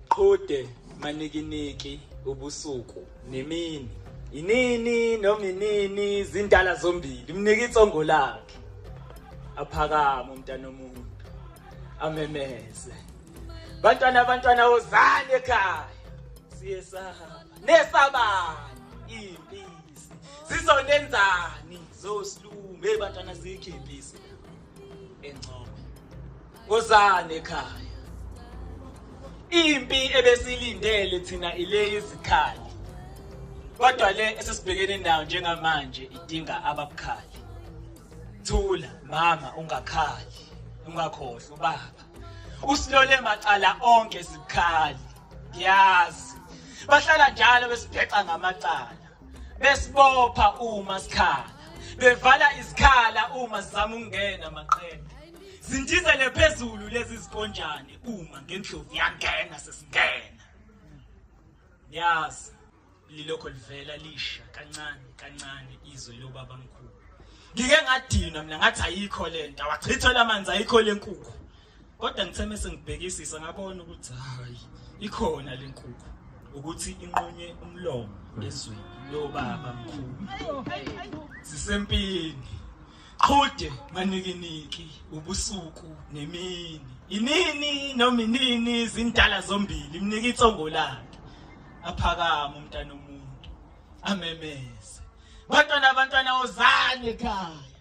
Qhude manikiniki ubusuku nemini inini noma inini zindala zombili mnika itsongo lakhe aphakama umntana omuntu amemeze bantwana abantwana wozani ekhaya siyesaba nesabani impisi zizonenzani zosilungu hey bantwana zikho impisi engcobo wozani ekhaya impi ebesilindele thina ile izikhali kodwa le esesibhekene nayo njengamanje idinga ababukhali thula mama ungakhali ungakhohlwa ubaba usilole macala onke sibukhali ngiyazi bahlala njalo besibhexa ngamacala besibopha uma sikhala bevala izikhala uma sizama ukungena maqembu zindizele phezulu lezi zikonjane uma ngendlovu yangena sesingena yazi lilokho livela lisha kancane kancane izwe lobaba mkhulu ngike ngadinwa mina ngathi ayikho lento awachithwe lamanzi ayikho lenkukhu kodwa ngithe mese ngibhekisisa ngabona ukuthi hayi ikhona le nkukhu ukuthi inqunywe umlomo ezweni lobaba mkhulu sisempini qhude manikiniki ubusuku nemini inini noma inini izindala zombili imnika itsongo lakhe aphakama umntana omuntu amemeze bantwana abantwana ozane ekhaya